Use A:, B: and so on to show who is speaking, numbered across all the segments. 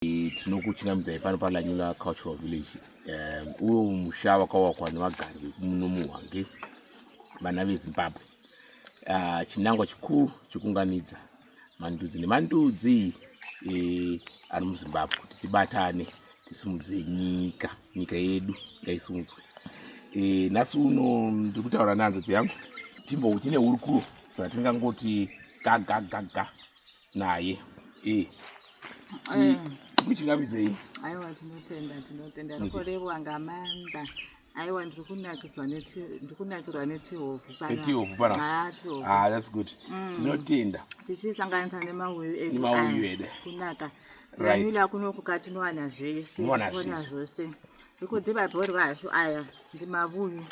A: tinokuchingamidzayi pano palanyula cultural village um, uyo musha wakawakwa nevagari vekumuno muhwange vana vezimbabwe uh, chinangwa chikuru chekunganidza mandudzi nemandudzi e, ari muzimbabwe kuti tibatane tisimudzire nyika nyika yedu ngaisudzwe e, nhasi uno ndiri kutaura nehanzvadzi yangu timbo tine hurukuro dzatingangoti gagagaga naye e, eh. kuchingamidzei aiwa
B: tinotenda tinotenda rikorevwa ngamanda aiwa ndiri kunakidzwa ndiri kunakirwa netihovhu panaetihovhu eh, panaa ah, that's good
A: mm. tinotenda tichisanganisa
B: nemauyu edu
A: kunaka
B: Namila kuno kukati nowana zvese. Nowana zvese. Ikoti vabhori vacho aya ndimavuyu.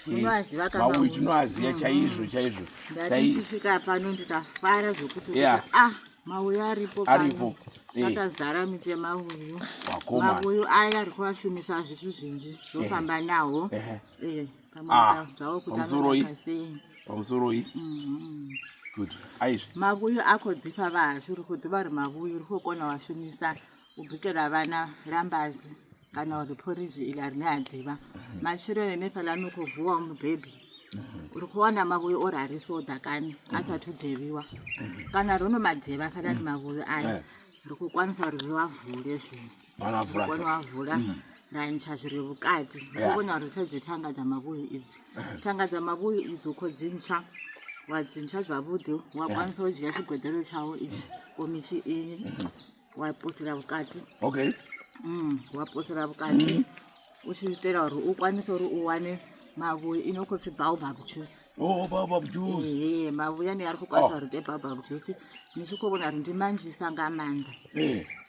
B: Unoaziva kama. Mavuyu tinoaziva
A: chaizvo chaizvo. Ndatichisvika
B: pano ndikafara zvokuti yeah. ah mauyu aripo pano. Aripo. Eh. Akazara miti yemauyu. Wakoma. Mauyu aya ari kuvashumisa zvitu zvinji zvofamba yeah. nawo. Yeah. Yeah. Ah, pamusoroi pamusoroi mm-hmm.
A: good aizvi mavuyu
B: ako dhipa vazvi uri kudhiva uri mavuyu uri kukona washumisa ubikira vana rambazi kana uri poriji ili ari neadhiva mm-hmm. machirene nepalanukuvuwa mubhebhi mm-hmm. uri kuona mavuyu ori ari soda kani asati udheviwa kana runo madheva kana ti mavuyu aya eh. uri kukwanisa uri vavhure zvinhu vanovhura vanovhura mm. raincha zviri vukati ndokona kuti tadze tanga dzamavuyo idzi tanga dzamavuyo idzo ko dzincha wadzincha zvavude wakwanisa kudya chigwedero chavo ichi komichi iyi waposera vukati okay mm, waposera vukati mm. uchiitera uri ukwanise uri uwane mavuyo inokofi baobab juice oh baobab
A: juice ehe mavuyo ane ari kukwanisa
B: oh. uri te baobab juice nichikovona ri ndimanjisa ngamanda eh.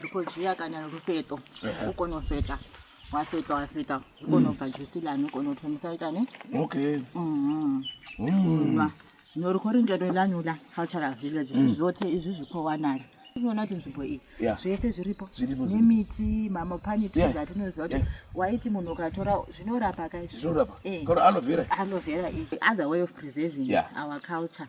B: rikojia kana rufeto ukonofeta wafeta wafeta ukonobva mm. jusi lani ukonotomisa itani okay mm-hmm. mm. norikoringero lanyu la cultural village mm. zvote izvi zvikowanala unoona kuti nzvimbo iyi zvese zviripo nemiti mamopaniti atinoziva kuti waiti munhu ukatora zvinorapa kaizvoalovera eh. iyi other way of preserving our culture